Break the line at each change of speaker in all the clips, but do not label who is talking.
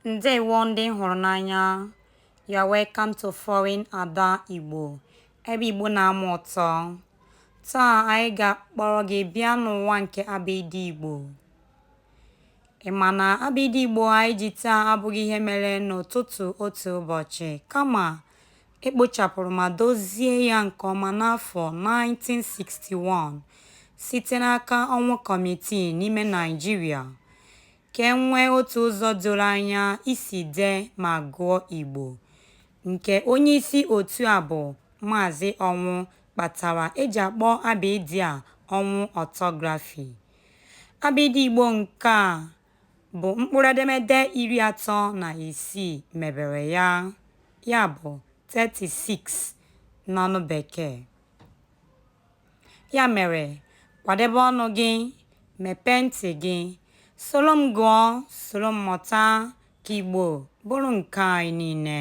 Ndewo ndị m hụrụ n'anya. You are welcome to Foreign Ada Igbo, ebe Igbo na-ama ụtọ. Taa anyị ga-akpọrọ gị bịa n'ụwa nke abịdị Igbo. Ị ma na abịdị Igbo anyị ji taa abụghị ihe mere n'ụtụtụ otu ụbọchị, kama e kpochapụrụ ma dozie ya nke ọma n'afọ 1961 site n'aka Ọnwụ kọmitii n'ime Naịjirịa. Ka e nwee otu ụzọ doro anya isi dee ma gụọ Igbo, nke onyeisi otu a bụ Maazị Ọnwụ kpatara e ji akpọ abịịdị a Ọnwụ Ọtọgrafi. Abịịdị Igbo nke a bụ mkpụrụedemede iri atọ na isii mebere ya, ya bụ, 36 n'ọnụ Bekee. Ya mere, kwadebe ọnụ gị, mepee ntị gị, soro m gụọ, soro m mụta ka Igbo bụrụ nke anyị niile.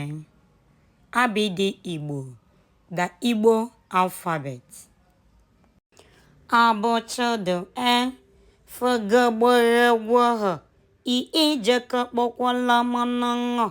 Abịdị Igbo, the Igbo alphabet. A b ch d e f g gb gh gw h i ị j k kp kw l m n ṅ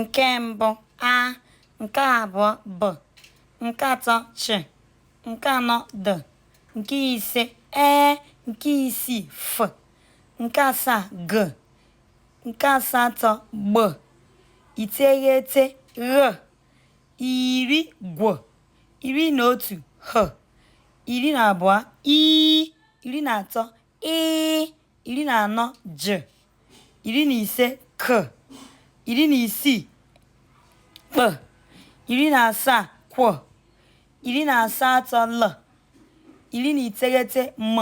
nke mbụ a nke abụọ b nke atọ ch nke anọ d nke ise e nke isii f nke asaa g nke asatọ gb iteghete gh iri gw iri na otu h iri na abụọ i iri na atọ ị iri na anọ j iri na ise k iri na isii kp iri na asaa kw iri na asatọ l iri na iteghete m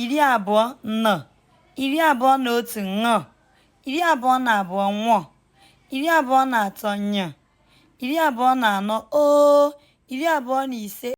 iri abụọ n iri abụọ na otu ṅ iri abụọ na abụọ nw iri abụọ na atọ ny iri abụọ na anọ o iri abụọ na ise